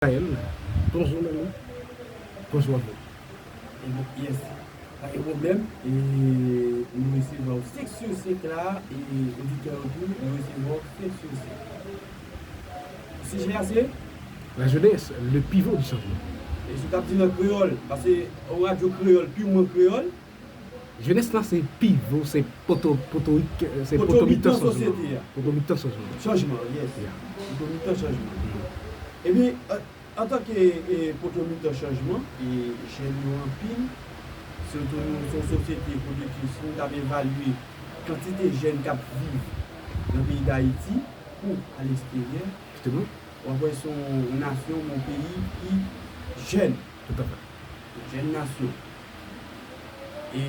Gaëlle bonjour nan nou Bonjour Gaëlle. E bon yes pa gen pwoblèm e nou resevwa w 5 sur 5 la e oditè yo tou yo resevwa w 5 sur 5. Sijè a se? La jeunesse, le pivot du changement. E si w tap dil an kreyòl, paske yon radyo kreyòl, pirman kreyòl. Jenès lan se pivo, se poto, potorik, se poto mitan chanjman an. Poto mitan chanjman an. Chanjman an, yes. Poto mitan chanjman an. Ebyen, antanke poto mitan chanjman, jèn yo anpil, se tou nou son sosyete kote ke si nou t ap evalye kantite jèn k ap viv nan peyi Dayiti kou aleksteryè, w ap wè se yon nasyon, yon peyi ki jèn. Toutafè. Jèn nasyon. E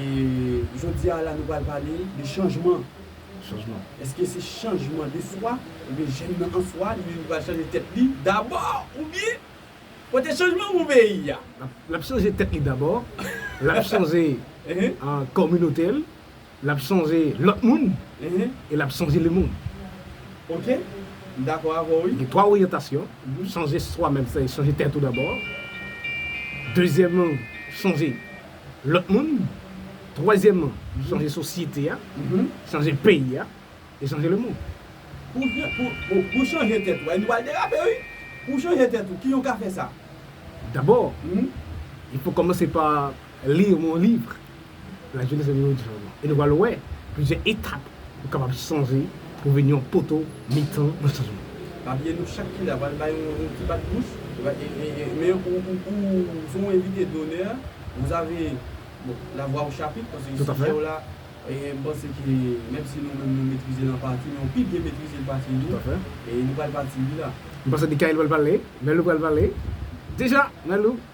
jodi a la nou pral pale de chanjman. Chanjman. Eske se chanjman de swa oubyen jèn nan an swa li menm ki pral chanje tèt li dabò oubyen pote chanjman pou peyi a? L ap chanje tèt li dabò, l ap chanje kominote l, L ap sonje lòt moun e l ap sonje lemonn. Gen twa oryantasyon, sonje swa menm, sètadi sonje tèt ou dabò. Dezyèmman, sonje lòt moun. Twazyèmman, sonje sosyete a, sonje peyi a e sonje lemonn. Pou chanje tèt ou, nou pral derape wi. Pou chanje tèt ou, kijan ou ka fè sa? Dabò, li pou kòmanse pa Li yon bon liv. Lajenès la vin yon diyaman. E nou pral wè plizyè etap ou kapab chanje pou w vin yon poto mitan nan chanjman. Papye nou chak ki la pral bay yon ti bat bouch. Men ou se yon envite donè. Vous avez la voix au chapitre paske sijè w la m panse ke menm si nou menm nou metrize l an pati men ou pi byen metrize l pase nou. E nou pral pati wi la. M panse Mickaël pral pale. Mèlou pral pale. Deja! Mèlou.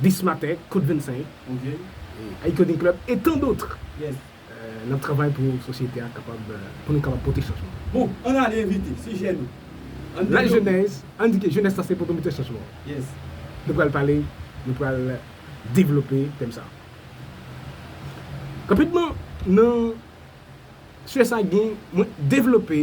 Bis Matè, Kot 25, Haïti Coding Club e tan dotr n ap travay pou sosyete a kapab pou nou kapab pote chanjman. Bon, ann ale envite, sijè nou, ann devlope. Lajenès, ann di ke jenès la se potomitè chanjman an. Nou pral pale, nou pral devlope tèm sa a. Rapidman, nan sijè sa a gen mwen devlope.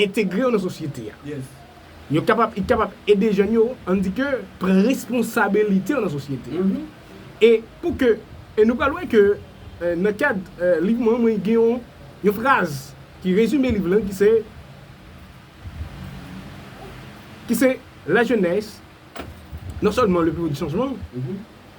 Entegre yo nan sosyete a. Yo kapab, i kapab ede jèn yo, an n di ke, pran responsabilite yo nan sosyete a. E pou ke, e nou pral wè ke nan kad liv mwen an mwen gen yon yon fraz ki rezime liv lan ki se ki se la jeunesse non sèlman le pivot du changement,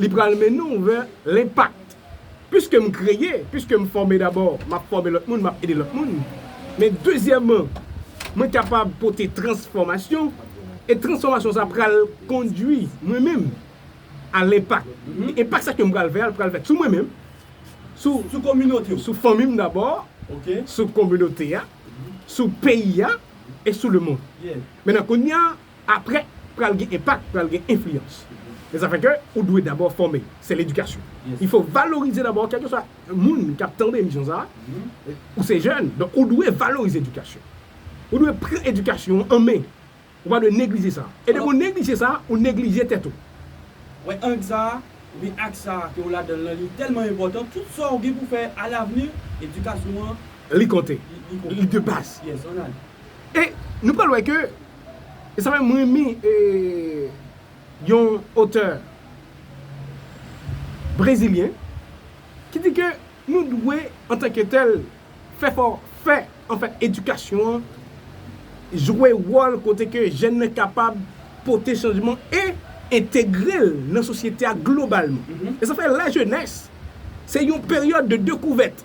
Li pral mennen w vè lenpak. Piske m kreye, piske m fòme dabò, m ap fòme lòt moun, m ap ede lòt moun. Men dezyèman, mwen kapab pote transfòmasyon, e transfòmasyon sa pral kondui mwen menm a lenpak. Enpak sa ke m pral fè a, li pral fèt sou mwen menm, sou fanmi m dabò, sou kominote a, sou peyi a, e sou lemonn. Mennan kounya. Aprè pral gen enpak, pral gen enfliyans. Men sa fè ke ou dwe dabò fòme. Se ledikasyon. Il fo valorize dabò kèlkeswa moun ki ap tande emisyon sa a, ou se jèn, donk ou dwe valorize edikasyon. Ou dwe pran edikasyon ou an men. Ou pa dwe neglije sa. E depi ou neglije sa, ou neglije tèt ou. Wè ang sa a, oubyen aks sa a ke ou ladan l lan, li tèlman enpòtan, tout sa ou gen pou fè a lavni, edikasyon an, Li konte. Li de baz. Yes, an ale. E nou pral wè ke E sa menm m renmen yon otè brezilyen ki di ke nou dwe antanke tèl fè fò fè an fè edikasyon an jwe wòl kote ke jèn nan kapab pote chanjman e entegre l nan sosyete a globalman. E sa fè lajenès se yon peryòd de dekouvèt.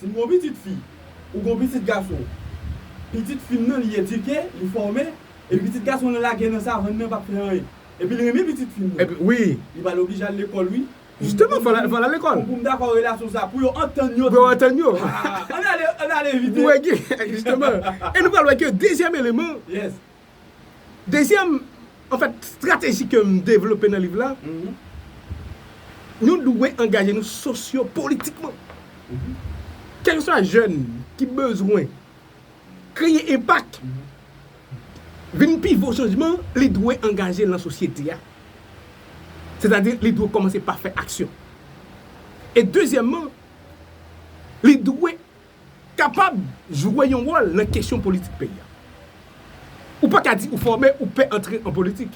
Si m gon pitit fi, ou gon pitit gason. Pitit fi m nan li edike, li fòme, epi pitit gason lan lage nan savann nan pap fè anyen. Epi l renmen pitit fi m nan. Li pral oblije al lekòl wi. Pou pou m dakò relasyon sa, pou yo antann yo tou. Haa! An n ale, an n ale vit e. Pou wè gen, jisteman. E nou pral wè ke dezyèm eleman. Yes. Dezyèm anfèt strateji ke m devlope nan liv la, nou dwe angaje nou sosyopolitikman. Kèlkeswa jèn ki bezwen kreye enpak, vin pivo chanjman, li dwe angaje l nan sosyete a. Sètadi li dwe kòmanse pa fè aksyon. E dezyèmman, li dwe kapab jwe yon wòl nan kesyon politik peyi a. Ou pa ka di ou fòme ou pè antre an politik.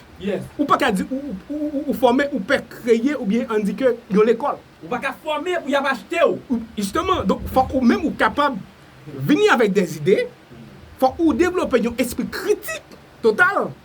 Ou pa ka di ou fòme ou pè kreye oubyen an di ke yon lekòl. Ou pa ka fòme pou y ap achte w. Jisteman, donk fòk ou menm ou kapab vini avèk dè zide, fòk ou devlope yon espri kritik total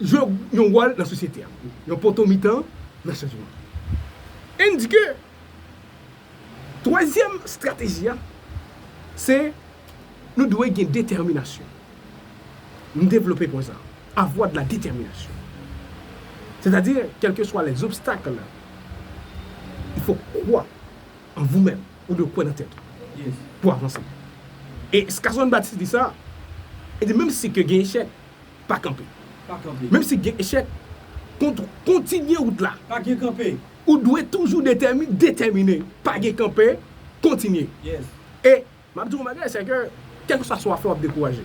jwe yon wòl nan sosyete a, yon poto mitan nan chanjman. Endike, twazyèm estrateji a, se nou dwe gen detèminasyon. M devlope pwen sa a, avoir de la détermination. Sètadi, kèlkeswa les obstacles, il faut croire en vous même, ou dwe kwè nan tèt ou pou w avanse. E Skazon Baptiste di sa, li di menm si ke gen echèk, Pa kanpe. Menm si gen echèk, kontinye wout la. Pa gen kanpe. Ou dwe toujou detèmine. Pa gen kanpe, kontinye. E, m ap di w yon bagay, se ke, kèlkeswa sa w ap fè, w ap dekouraje.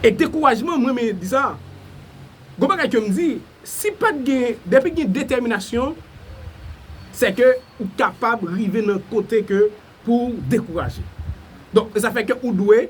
E dekourajman, m renmen di sa, gen yon bagay ke m di, si pa t gen, depi gen detèminasyon, se ke ou kapab rive nan kote ke pou w dekouraje. Donk, sa fè ke ou dwe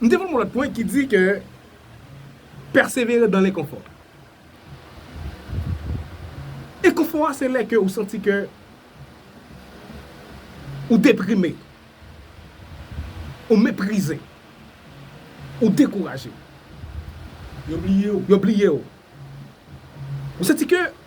M te voye yon lòt pwen ki di ke pèsevere dan lenkonfò. Enkonfò a se lè ke ou santi ke ou deprime, ou meprize, ou dekouraje. Yo bliye ou. Yo bliye ou. Ou santi ke.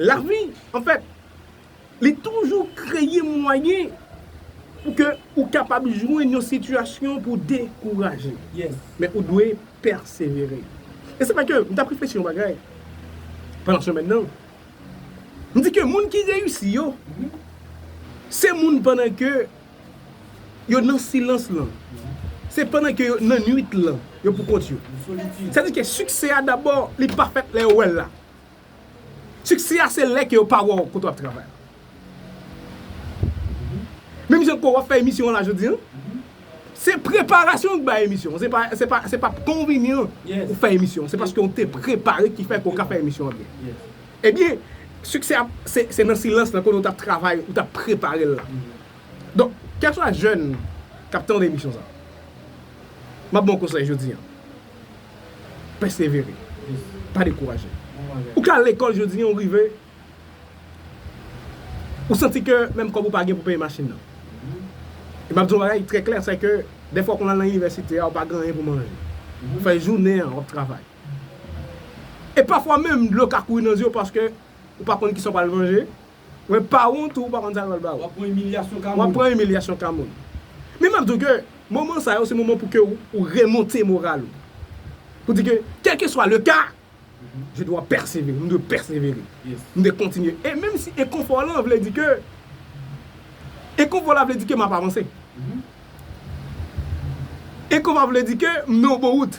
Lavi, an fèt, li toujou kreye mwayen pou ke ou kapab jwenn yon sitiyasyon pou w dekouraje. Men ou dwe pèsevere. E se vre ke m t ap reflechi yon bagay pandan semèn nan. M di ke moun ki reyisi yo, se moun pandan ke yo nan silans lan. Se pandan ke yo nan nuit lan, yo pou kont yo. Sa vle di ke siksè a dabò, li pa fèt lè yo wè l la. Siksè a se lè ke yo pa wè w kote w ap travay la. Menm jan ke w ap fè emisyon an la jodi an, se preparasyon ki bay emisyon an. Se pa, se pa, se pa konvini an ou fè emisyon an. Se paske w te prepare ki fè ke w ka fè emisyon an byen. Ebyen, siksè a se, se nan silans la kote w t ap travay, ou t ap prepare l la. Donk, kèlkeswa jèn k ap tande emisyon sa a, m ap ba w konsèy jodi an. pèsevere, pa dekouraje. Ou ka lekòl jodi an ou rive ou santi ke menm kòb ou pa gen pou peye machin nan. E map di yon bagay trè klè se ke dèfwa ou konn al nan inivèsite a ou pa gen anyen pou manje. Ou fè jounen an wap travay. E pafwa menm dlo ka kouri nan zye ou paske ou pa konn kisa ou pral manje. Mwen pa wont ou pa konn sa yo pral ba ou. Wap pran imilyasyon ka moun. Wap pran imilyasyon ka moun. Men map di w ke moman sa yo se moman pou ke ou remonte moral ou. Pou di ke kelkeswa le ka, je dwa pèsevere, m dwe pèsevere. M dwe kontinye. E menm si enkonfò lan vle di ke, enkonfò la vle di ke map avanse. Enkonfò vle di ke m nan yon bon wout.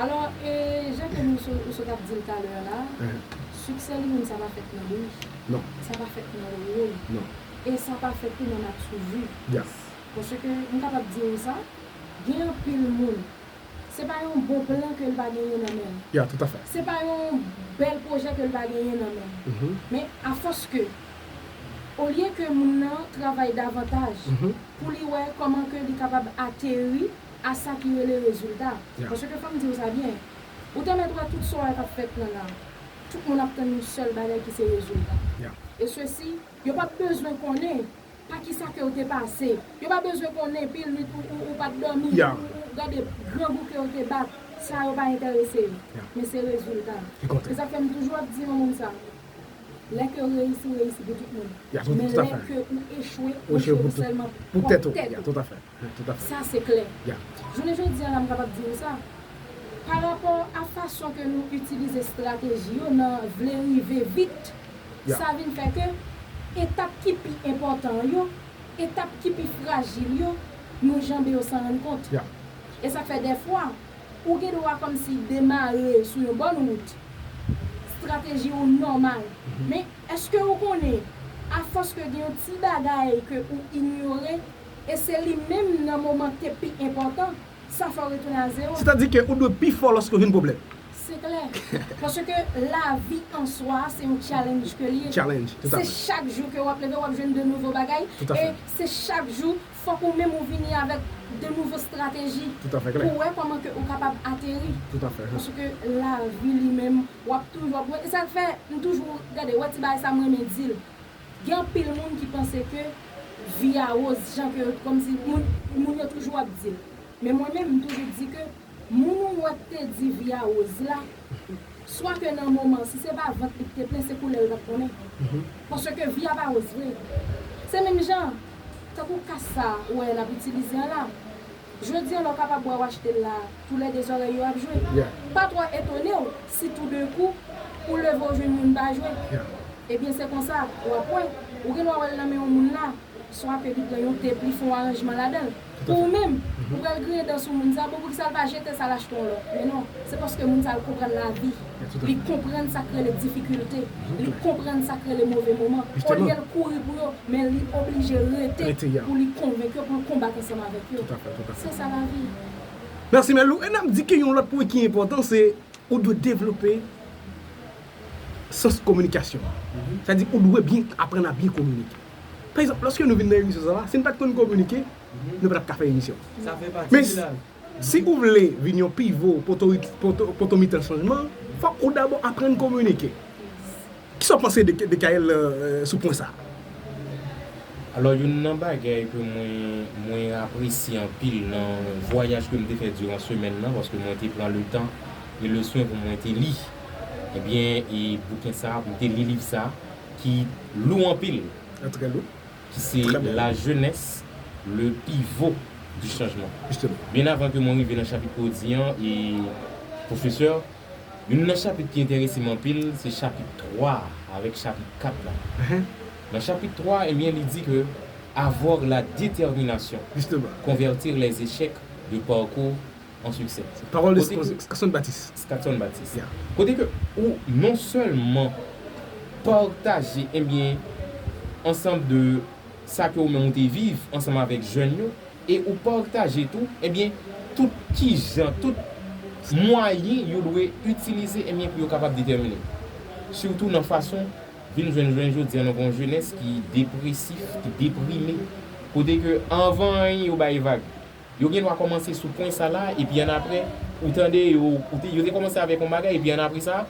Alò e jan ke nou sot ou sot ap dil talè a la succès li menm sa pa fèt nan bri non sa pa fèt nan woyy non e sa pa fèt tou nan matu vu yes paske m kapab di ou sa gen anpil moun se pa yon bon plan ke l pa genyen nan men l ya tout afè se pa yon bèl projè ke l pa genyen nan men l men a fòs ke olye ke moun nan travay davantaj pou li wè kòman ke li kapab ateri a sa ki rele rezilta. Paske fò m di w sa byen, ou te mèt wè tout sa w wè k ap fèt nan la a, tout moun ap tann yon sèl bagay ki se rezilta. E sesi, yo p ap bezwen konnen pa ki sa ke w te pase, yo pa bezwen konnen pil nuit ou pa t dòmi, ou gade grangou ke w te bat, sa yo pa enterese yo. Men se rezilta a. Se sa k fè m toujou ap di yon moun sa, lè ke w reyisi, w reyisi pou tout moun. Men lè ke ou echwe, ou echwe pou sèlman pwòp tèt ou. Sa se klè. Jounen jodi a la m kapab di nou sa, pa rapò a fason ke nou itilize strateji yo nan vle rive vit, sa vin fè ke etap ki pi enpòtan an yo, etap ki pi frajil yo, nou janbe yo san rann kont. E sa k fè dèfwa, ou gen dwa kòmsi demare sou yon bòn wout, strateji ou nòmal, men èske ou konnen, afòs ke gen yon ti bagay ke ou inyore, e se li menm nan moman te pi enpòtan, sa fè w retounen a zewo. Sètadike ou dwe pi fò lòske w vin pwoblèm. Se klè. Paske lavi an swa a se yon challenge ke li ye. Challenge, tout a fè. Se chak jou ke w ap leve w ap jwenn de nouvo bagay. Tout a fè. E se chak jou fòk ou menm ou vini avèk de nouvo strateji. Tout a fè klè. Pou w wè kòman ke ou kapab ateri. Tout a fè. Paske lavi li menm w ap toujou ap wè. E sa k fè m toujou gade wè ti bagay sa m renmen di l. Gen anpil moun ki panse ke vi a rose jan ke kòmsi moun yo toujou ap di l. Men mwen menm m toujou di ke moun ou wè k te di vi a rose la, swa ke nan moman an si se pa vant li k te plen se koulè l tap konnen. Paske vi a pa rose vre. Se menm jan tankou kas sa ou wè nap itilize an la. Jodi an lè w kapab wè w achte l la a, tou lè de zòrèy yo ap jwe. Pa twò etone w si tou de kou ou leve w jwenn youn pa jwe. Ebyen se konsa, w ap wè, ou gen dwa wè l nan men yon moun la, swa ke li pran yon tep li fè yon aranjman ladan l. Pou ou menm, ou pral griyen dan sou moun sa, bon poukisa l pa jete sa l achte yon lòt? Men non, se paske moun sa l konprann lavi. Li konprann sa k rele difikilte, li konprann sa k rele move moman. Olye l kouri pou yo, men li oblije rete pou li konvenk yo, pou l konbat ansanm avèk yo. Se sa lavi. Mèsi Melou. E n ap di ke yon lòt pwen ki enpòtan se ou dwe devlope sans kominikasyon an. Sa di ou dwe byen aprann a byen kominike. Pa egzanp, lòske nou vin nan emisyon sa la, si n pa t konn kominike, nou pa t ap ka fè emisyon. Men, Si ou vle vin yon pivo poto mitan chanjman, fòk ou dabò aprann kominike. Kisa w panse de Decaël sou pwen sa? Alò youn nan bagay ke mwen mwen apresye anpil nan vwayaj ke m te fè diran semèn nan paske mwen te pran le tan e le swen pou mwen te li ebyen e bouken sa pou m te li liv sa ki lou anpil. Trè lou. Se la jenès le pivo di chanjman. Byen avan ke mwen rive nan chapit ke w di an, pwofesè, youn nan chapit ki enterese m anpil, se chapit 3 a avèk chapit 4 la. Nan chapit 3 a, enbyen li di ke Avoir la determination, convertir les echecs de parcours an siksè. Pawòl de Skakson Batis. Skakson Batis. Kote ke ou non sèlman pataje enbyen ansanm de sa ke ou menm ou te viv ansanm avèk jèn yo e ou pataje tou enbyen tout kijan, tout mwayen yo dwe itilize enbyen pou yo kapab detèmine. Sitou nan fason vin jwenn jounen jodi a nou gen yon jenès ki depresif, ki deprime. Kote ke anvan anyen yo bay vag. Yo gen dwa kòmanse sou pwen sa la epi annapre ou tande yo, ou te, yo te kòmanse avèk yon bagay epi annapre sa,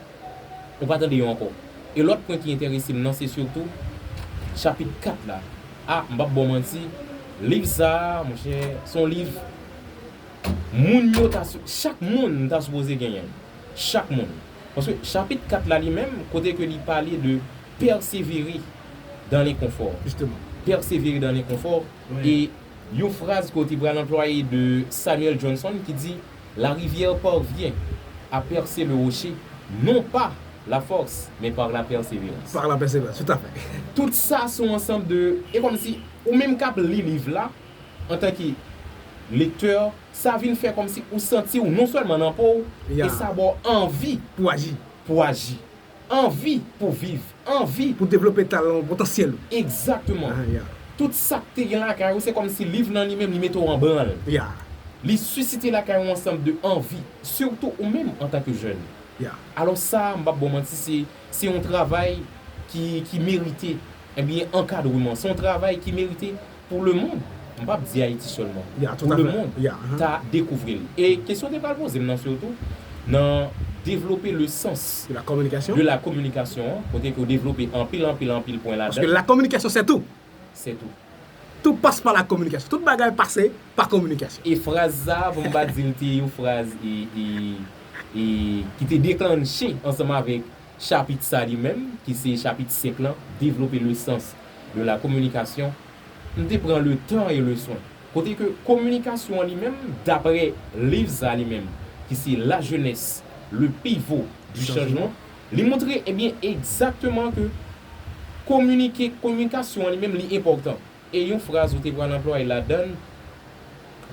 ou pa tande yo ankò. E lòt pwen ki enterese m nan se sitou chapit 4 la. A, m p ap ba w manti, liv sa a, monchè, s on liv moun yo ta si, chak moun ta sipoze genyen l. Chak moun. Paske chapit 4 la li menm, kote ke li pale de pèsevere dan lenkonfò. Jisteman. Pèsevere dan lenkonfò. e yon fraz ke w te pral anplwaye de Samuel Johnson ki di, La rivière parvient à percer le rocher, non pas la force, mais par la persévérance. Par la persévérance, tout à fait. Tout sa son ansanm de, e kòm si ou menm k ap li liv la antan ke lektè, sa vin fè kòm si ou santi w non sèlman nan po w, e sa ba w anvi pou w aji. Anvi pou viv. Anvi. Pou devlope talan ou, potansyèl ou. Exactement. Ah, yeah. Tout sa k te gen lakay ou, se kòm si liv nan li menm, li mete ou an branl. Yeah. Li sisite lakay ou yon ansanm de anvi, surtout ou menm antan ke jèn. Yeah. Alòs sa, m p ap ba w manti, se, se yon travay ki, ki merite, ebyen, ankadreman. Se yon travay ki merite pou lemond, m pap di Ayiti sèlman, pou lemond ta dekouvri l. E kesyon te pral poze m nan sitou nan devlope le sans de la kominikasyon an, kote ke ou devlope anpil, anpil, anpil pwen ladan. Paske la kominikasyon se tou. Se tou. Tou pase pa la kominikasyon. Tout bagay pase pa kominikasyon. E fraz sa a, pou m pa di l te yon fraz ki te deklanche ansanm avèk Chapit sa li menm, ki se chapit 5 lan, Développer le sens de la communication, m te pran le tan e le swen. Kote ke kominikasyon an li menm, dapre liv sa li menm, ki se La jeunesse, le pivot du changement, li montre, ebyen, egzakteman ke kominike, kominikasyon an li menm li enpòtan. E yon fraz ou te pral anplwaye ladann,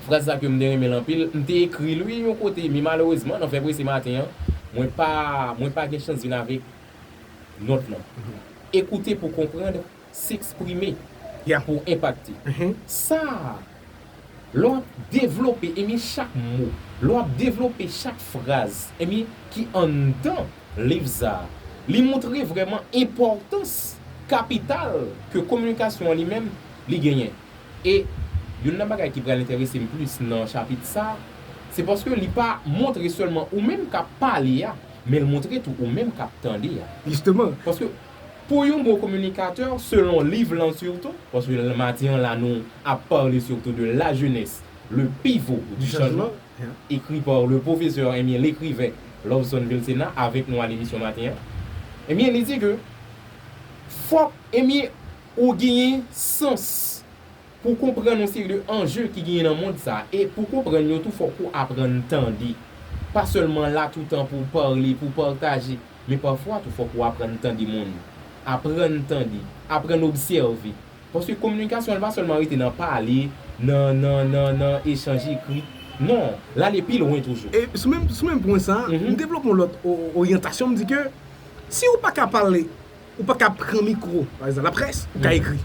fraz sa ke m te renmen l anpil, m te ekri l wi yon kote men malerezman nan fè prese maten an, mwen pa mwen pa gen chans vin avèk nòt lan. Écouter pour comprendre, s'exprimer pour impacter. Sa! Lè w ap devlope, ebyen chak mo, lè w ap devlope chak fraz, ebyen ki anndan liv sa a, li moutre vrèman enpòtans kapital ke kominikasyon an li menm li genyen. E youn nan bagay ki pral enterese m plis nan chapit sa a, se paske li pa moutre sèlman ou menm k ap pale a, men l moutre tou ou menm k ap tande a. Jisteman. Paske. Pou yon bon communicateur, selon liv lan surtout, paske mati an la nou ap parle surtout de la jeunesse, le pivot du changement, écrit par le professeur ebyen l'écrivain Lovson Vilcena avèk nou al emisyon maten an, ebyen li di ke fòk ebyen ou genyen sans pou konprann yon seri de enjeux ki genyen nan mond sa e pou konprann yo tou fòk ou aprann tande, pa sèlman la toutan pou parle, pou partager. Men pafwa tou fòk ou aprann tande moun. Aprann tande. Aprann obsève. Paske kominikasyon li pa sèlman rete nan pale, nan nan nan nan echanj ekri. Non. L ale pi lwen toujou. E sou menm sou menm pwen sa a, m devlope yon lòt oryantasyon, m di ke si ou pa ka pale. Ou pa ka pran mikro, pa ekzanp, laprès, ou ka ekri.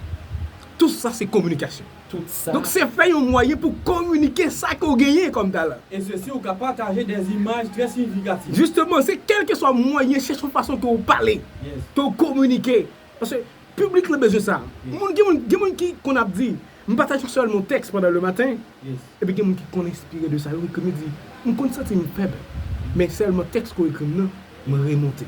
Tout sa se kominikasyon. Tout sa. Donk se fè yon mwayen pou kominike sa ke w genyen kòm talan. E se si ou ka pataje dè imaj trè siyifikatif. Jisteman, se kèlkeswa mwayen, chèche yon fason ke w pale, ke w kominike. Paske piblik lan bezwen sa. Moun, gen moun, gen moun ki konn ap di, m pataje sèlman yon tèks pandan lematen. Epi gen moun ki konn enspire de sa yo ekri, li di, m konn santi m fèb, men sèlman tèks ke w ekri m nan, m remonte.